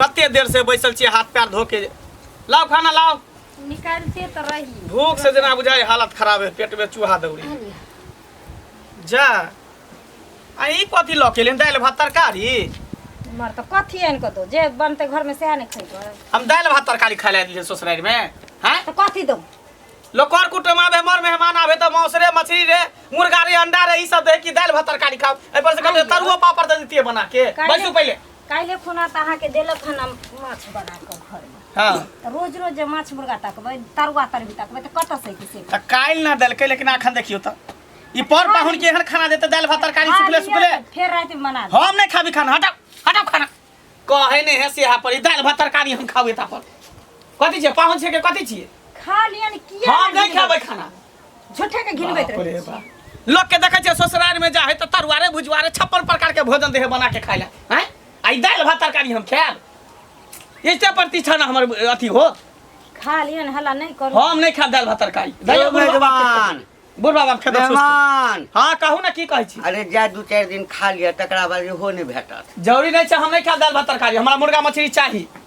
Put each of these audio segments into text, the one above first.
कते देर से बैसल छियै हाथ पैर धो के लाओ खाना लाओ निकालते तो रही भूख से जेना बुझाय हालत खराब है पेट में चूहा दौड़ी जा आ ई कथी लऽ के एलियन दालि भात तरकारी मर तो कथी आनि कऽ दो जे बनते घर में सएह ने खैबो हम दालि भात तरकारी खाय लए एलियै ससुरारि में हैं तो कथी दो लोग कर कुटुम आबे हमर मेहमान आबे तऽ मांस रे मछली रे मुर्गा रे अंडा रे ई सब दे कि दालि भात तरकारी खाओ एहि पर से कहते तरुओ पापड़ दे दितिए बना के काहे? बैसू पहिले काल्हि खुना तऽ अहाँके देलक हन हम माछ बना कऽ घरमे हाँ तऽ रोज रोज जे माछ मुर्गा तकबै तरुआ तरबी तकबै तऽ कतऽ से किसे तऽ काल्हि ना देलकै लेकिन अखन देखियौ तऽ ई पर पाहुन के एहन खाना देते दालि भात तरकारी सुखले सुखले फेर राति में बना देब हम नहीं खाबी खाना हटाओ हटाओ खाना कहे नहीं है सेहा पर ई दालि भात तरकारी हम खाबे ता पर कथी छियै पाहुन छियै के कथी छियै खा लियन किया हम नहीं खाबै खाना झूठे के घिनबैत बाप रहे रे बाप। लोग के देखे छै ससुराल में जा है तो तरुआरे भुजुआरे छप्पन प्रकार के भोजन दे है बना के खाए ला हैं आई दाल भात तरकारी हम खाएब ऐसे प्रतिष्ठा ना हमर अथी हो खा लियन हला नहीं करू हम नहीं खाएब दाल भात तरकारी दाल यौ बुढ़वा- मेजबान बुढ़वा बाप खेत मेहमान हाँ कहू ना की कहै छी अरे जा दू चारि दिन खा लिअ तकरा बाद इहो नहि भेटत जरूरी नहीं छै हम नहीं खाएब दाल भात तरकारी हमरा मुर्गा मछली चाही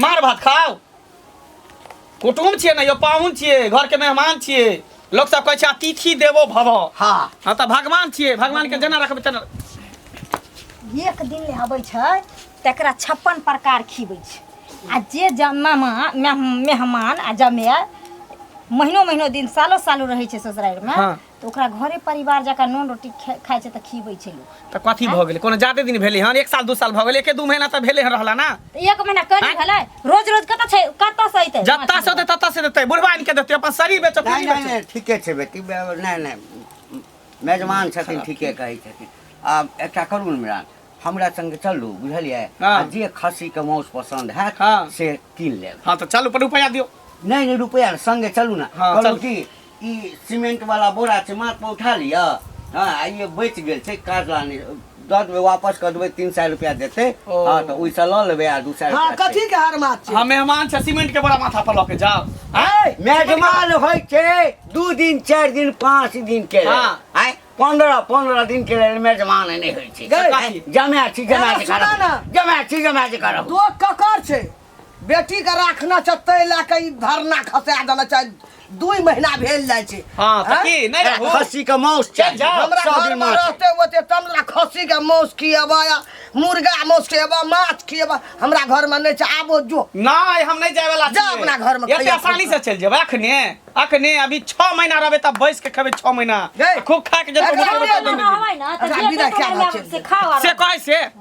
मार भात खाओ कुटुम छियै ने यौ पाहुन छियै घरके मेहमान छियै लोक सब कहै छै अतिथि देवो भव हाँ हँ तऽ भगवान छियै भगवान के जेना रखबै तेना एक दिन ले अबै छै तकरा छप्पन प्रकार खिबै छै आ जे जमामा मेहमान आ जमाय महीनो महीनो दिन सालो सालो रहै छै ससुरारिमे हाँ। तऽ ओकरा घरे परिवार जकाँ नून रोटी खे- खाइ छै तऽ खीबै छै लोक तऽ कथी भऽ गेलै कोनो जादे दिन भेलै हन एक साल दू साल भऽ गेलै एके दू महीना तऽ भेलै हन रहला ना तऽ एक महीना करी आँय? भेलै रोज रोज कतऽ छै कतऽ से अइतै जत्ता से होतै तत्ता से देतै बुढ़वा आनि के देतै अपन शरीर बेचो नहीं पूरी नहीं बेचो नहीं ठीके छै बेटी बे- नहीं नहीं मेजबान छथिन ठीके कहै छथिन आ एकटा करू ने मिरान हमरा संग चलू बुझलियै हाँ। आ जे खस्सी के माउस पसंद हैत हाँ। से कीन लेब हाँ तो चल ऊपर रुपया दियो नहीं नहीं रुपया संगे चलू ना हाँ, कहलू चलू। की ई सीमेंट वाला बोरा छै माथ पर उठा लिअ हँ आ ई बचि गेल छै काज लानी दऽ देबै वापस कऽ देबै तीन सए रुपया देतै ओ। हँ तऽ ओहिसँ लऽ लेबै आ दू सए हाँ रुपया कथी के हार मात छै हम मेहमान छै सीमेंट के बोरा माथा पर लऽ के जाओ आय मेजमान होइ छै दू दिन चारि दिन पाँच दिन के लेल। हँ। आय पंद्रह पंद्रह दिन के लेल मेजमान नहि होइ छै गै। आय, जमाए छी जमाए छी एना सुना करब ने। जमाए छी जमाए छी करब तो ककर छै बेटी के राखना छै तै लए के ई धरना खसा देना छै दुई महीना भेल जाइ छै हाँ, तऽ हैं? की, नहि रहू? खस्सी के मौस चल चाही जाओ, हमरा सौ घर दिन में माछ। रहते होते तब ना खस्सी के मौस खिएबा या मुर्गा मौस खिएबा माछ खिएबा हमरा घर में नहीं छै आबो जो नहि हम नहि जाय वाला जा छियै। अपना घरमे एते खैया आसानी से चलि जेबै अखने अखने अभी छओ महीना रहबै तब बैस के खेबै छओ महीना गै। खूब खा के जेबै एकरा घुमबै, बिना तब घुमबै। हवाई ना तऽ एकरा जे बिना पेट क्या में बात आबै छै? से खाओ आराम से कहै से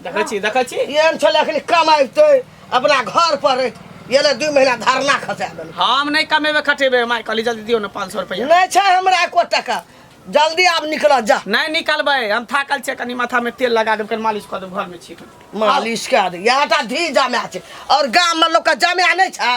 देखै छी देखै छी एहन छलै एखन कमाइते अपना घर पर रहैत एलै दू महीना धरना खसा देलकै हम नहीं कमेबे खटेबे माय कहली जल्दी दियो ना पाँच सौ रुपया नहीं छै हमरा एको टका जल्दी आब निकल जा नहीं निकलबे हम थाकल छे कनी माथा में तेल लगा देब कनी मालिश कर देब घर में छी मालिश कए दे यहाँ टा धी जमा छै और गाम में लोग के जमा नहीं छै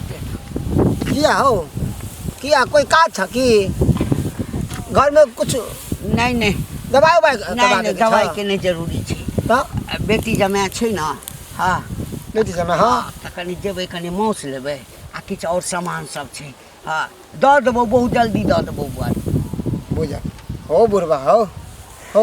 किया हो किया कोई काज छ कि घर में कुछ नहीं नहीं दवाई उवाई नहीं करवा नहीं देके छ? दवाई के नहीं जरूरी छै तो आ बेटी जमाय छै ने हाँ बेटी जमा हाँ तऽ कनि जेबै कनि माउस लेबै आ किछु आओर सामान सब छै हाँ दऽ देबौ बहुत जल्दी दऽ देबौ बुआरी बुझल हो बुढ़वा हो हो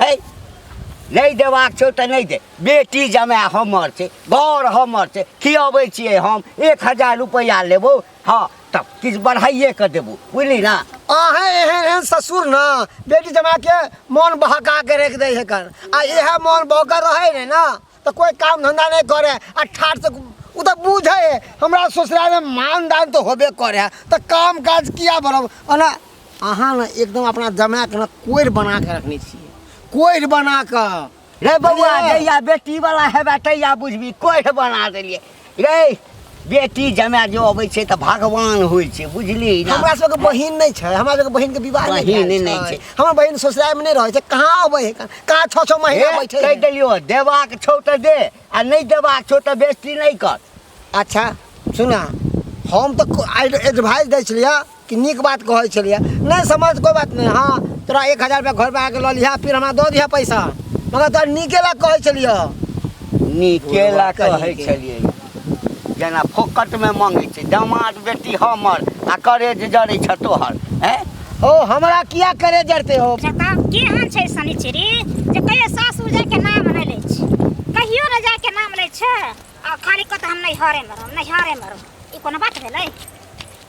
है नहि देबाक छौ तऽ नहि दे बेटी जमाय हमर छै घर हमर छै खियबै छियै हम एक हजार रुपैआ लेबौ हँ तब किछु बढ़ाइए कऽ देबौ बुझली ने अहाँ एहन एहन ससुर ने बेटी जमाके मोन बहका के राखि दै हेकन आ इएह मोन बहकर रहै ने ने तऽ कोइ काम धन्धा नहि करे आ ठाट से ओ तऽ बुझे है हमरा ससुरालमे मान दान तऽ होबे करे है तऽ काम काज किया बरब ओना अहाँ ने एकदम अपना जमाएके ने कोरि बना के रखने छियै कोरि बना कऽ रे बौआ बुझलियै? जहिया बेटी वाला हेबे तहिया बुझबी कोढ़ बना देलियै रे बेटी जमाय जो अबै छै तऽ भगवान होइ छै बुझली ना हमरा सबके बहिन नहि छै हमरा सबके बहिन के विवाह नहि बहिन भेल नहि छै। हमर बहिन ससुराल में नहि रहै छै कहाँ अबै है कहाँ छओ छओ हे, महीना बैठे कहि है देलियो देबाक छौ तऽ दे आ नहि देबाक छौ तऽ बेइज्जती नहि कर अच्छा सुना हम तऽ एडवाइस दै छलियै कि नीक बात कहै छलियै नहि समझ कोइ बात नहि हँ तोरा एक हजार रुपैआ घरपर आके लऽ लिहऽ फिर हमरा दऽ दिहऽ पैसा मगर तोरा नीके लए कहै छलियै नीके लए कहै छलियै जेना फोकटमे मङ्गै छै दामाद बेटी हमर आ करेज जड़ै छ तोहर हैं ओ हमरा किया करे जरते हो जता की हाल छै शनिचरी जे कहियो सासुर जाय के नाम नै लै छै कहियो न जाय के नाम लै छै आ खाली कत हम नै हरे मरम नै हरे मरम ई कोनो बात भेलै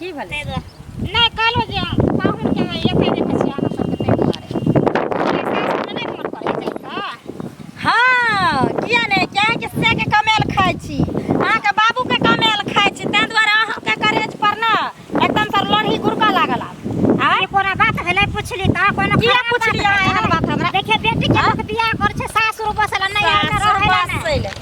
की भेलै ताहि दुआरे नहि कहलहुँ जे पाहुन जे एतै जे पछे अहाँ सबके ताहि दुआरे हमरा सासुरमे नहि मोन पड़ै छै तऽ हँ किया नहि कियाकि से के कमायल खाइ छी अहाँके बाबू के कमायल खाइ छी ताहि दुआरे अहाँके करेज पर ने एकदम से लोढ़ी गुड़का लागल आब आँय? ई कोनो बात भेलै पुछली तऽ कोनो किया खराब बात पुछलियै भेलै? एहन बात हमरा? देखिए बेटी के लोक बियाह करै छै सासुर बसल नहि एहन सासुर रहै लए ने। बसैले।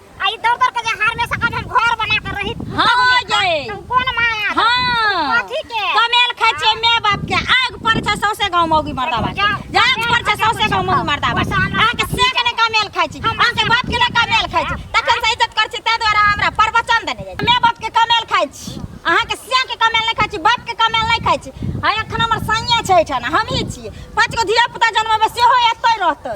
आई दर दर के जहार में सका हम घर बना के रही हाँ, जाए। तुम कौन माया दो? हाँ कथी के कमेल खाइ छियै माय बाप के आग पर छै सौसे गाँव मौगी मर्दाबा के। जाग पर छै सौसे गाँव मौगी मर्दाबा के। अहाँके से के ने कमेल खाइ छी अहाँके बाप के ने कमेल खाइ छी तखन से इज्जत कर छी ताहि द्वारा हमरा प्रवचन देने जाइ छी। माय बाप के कमेल खाइ छी अहाँके से के कमेल नहि खाइ छी बाप के कमेल नहि खाइ छी आ एखन हमर सैया छै एहिठाम हमही छियै पाँच गो धिया पुता जनमेबै सेहो एतै रहतै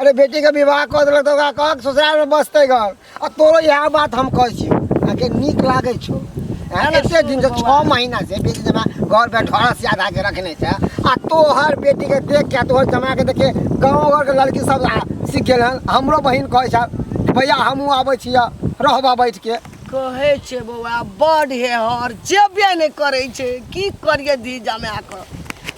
अरे बेटी के विवाह कर देलक तो ओकरा कहक ससुराल में बसते घर आ तोरो यह बात हम कहै छी आके नीक लागै छौ हैं, एते दिन से छः महीना से बेटी जमा घर पे ढोरा से आधा के रखने छै आ तोहर बेटी के देख के तोहर जमा के देखे गाँव घर के लड़की सब आ- सीख गेल हन हमरो बहिन कहै छै कि भैया हमहूँ आबै छियै रहबा बैठ के कहै छै बौआ बड हे हर जेबे नहि करै छै की करियै धी जमा कऽ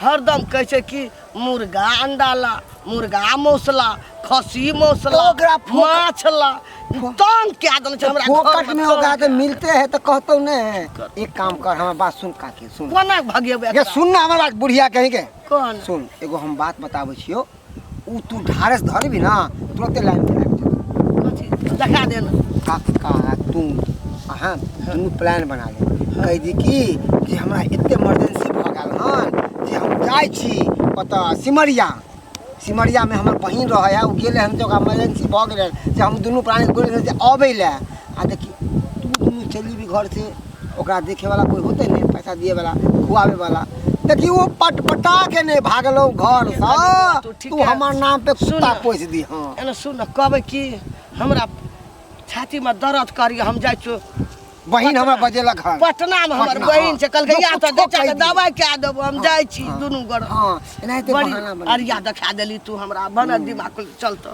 हरदम कहै छै कि मुर्गा अंडा ला मुर्गा मौस ला खस्सी मौस ला तो ओकरा फोक- माछ ला तंग कए देने छै हमरा घर फोकट में ओकरा के मिलते है तो कहतो ने है एक काम कर हमार बात सुन काकी सुन कोना भगेबै ये सुन ना हमारा बुढ़िया कहीं के कोन सुन एगो हम बात बताबै छियो ओ तू ढारस धरबी ना तुरंते लाइन पे लग जाता देखा दे ना काका तू अहाँ दुनू प्लान बना ले कह दी कि जे हमरा एते इमरजेंसी भऽ गेल हन जे हम जाइ छी ओतऽ सिमरिया सिमरिया में हमर बहिन रहे है ओ गेले हन तऽ ओकरा इमरजेंसी भऽ गेलै जे हम दुनू प्राणी बोल जे अबै लए आ देखी तू दुनू चलि जेबी घर से ओकरा देखे वाला कोई होते नहीं पैसा दिए वाला खुआवे वाला देखी वो पटपटा के नहीं भागलो घर से हाँ, तू ठीक तू है। हमार नाम पे सुन कुत्ता ना। पोस दी हाँ एने सुन न कहबै कि हमरा छाती में दर्द करी हम जाइ छु बहन हमरा बजेला घर पटना में हमर पटना, बहिन छै कहलकै या त लोग देखा के ठोकै दवाई कए देबो हम जाइ छी दुनू गोड़ हाँ एनाहिते बड़ी बहाना बना अरिया देखा देली तू हमरा बनल दिमाग चलतो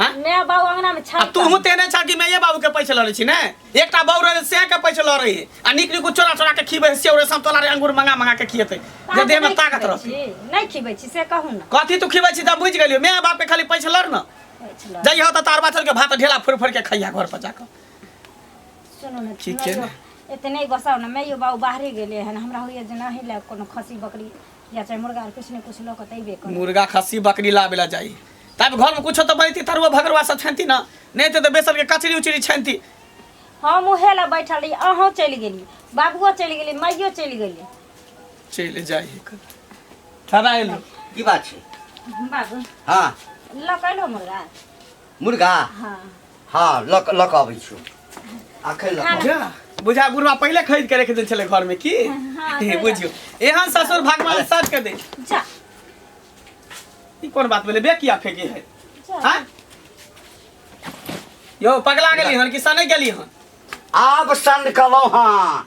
हाँ? मैं बाबू अंगना में छा आ तू हूँ तेने छा कि मैं ये बाबू के पैसे लड़े छी ने एकटा बाबू रहे से के पैसे लड़े है आ निक निक चोरा चोरा के खीबे से और सब तोला रे अंगूर मंगा मंगा के खिएते जे देह में ताकत रह नहीं खिबै छी से कहू ना कथी तू खिबै छी त बुझ गेलियो मैं बाप के खाली पैसे लड़ ना जई हो त तार बाछल के भात ढेला फुर फुर के खैया घर पर जाकर सुनो ना ठीक है इतने गोसाव ना मैं यो बाबू बाहरे गेले हन हमरा होइए जे नहीं ले कोनो खसी बकरी या चाहे मुर्गा आर कुछ ने कुछ लोग तैबे कर मुर्गा खस्सी बकरी लाबे ला जाई तब घर में कुछो तो बनती तरुआ भगरवा सब छनती ना नहीं तो, तो बेसन के कचरी उचरी छनती हम उहे ला बैठल रही अहूँ चलि गेली बाबुओ चलि गेली माइयो चलि गेली चले जाई ठहरा एलो की बात छै बाबू हाँ लकैलो मुर्गा मुर्गा हाँ हाँ लक लक अबै छु आखै लक अबै। जा, बुझा बुढ़वा पहिले खरीद के रख दे छले घर में की हाँ, हे, सही बुझियो एहन ससुर भगवान साथ के दे जा ई कोन बात भेलै बे किया फेंके है जा हाँ? यो पगला गेली हन कि सनै गेली हन आब सन कलौ हाँ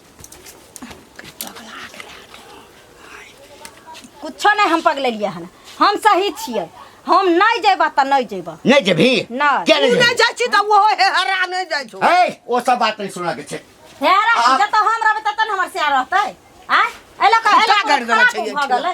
कुछो नहीं हम पगलेलिए हन हम सही छिए हम नहीं जेबा त नहीं जेबा नहीं जेबी नहीं क्या नहीं नहीं जाई छी त वो हे हरा नहीं जाई छो ए वो सब बात नहीं सुना के छे हेरा जत हम रहबे तत हमर से रहतै आ एला का एला कर देला छै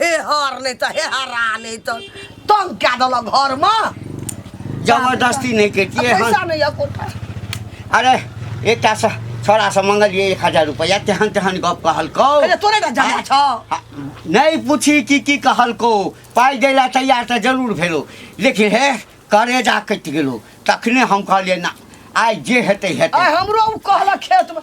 हे हर नहीं तो हे हरा नहीं तो तंग क्या दल घर में जबरदस्ती नहीं कहती है पैसा नहीं है कोठा अरे एकटा से छोरा से मंगलिए एक हजार रुपया तेहन तेहन गप कहलको अरे तोरे ना जाना छ आ, नहीं पूछी कि की कहलको पाई देला तैयार तो जरूर भेलो लेकिन हे करेजा कटि गेलो तखने हम कहलिए ना आइ जे हेतै हेतै आय हमरो उ कहला खेत में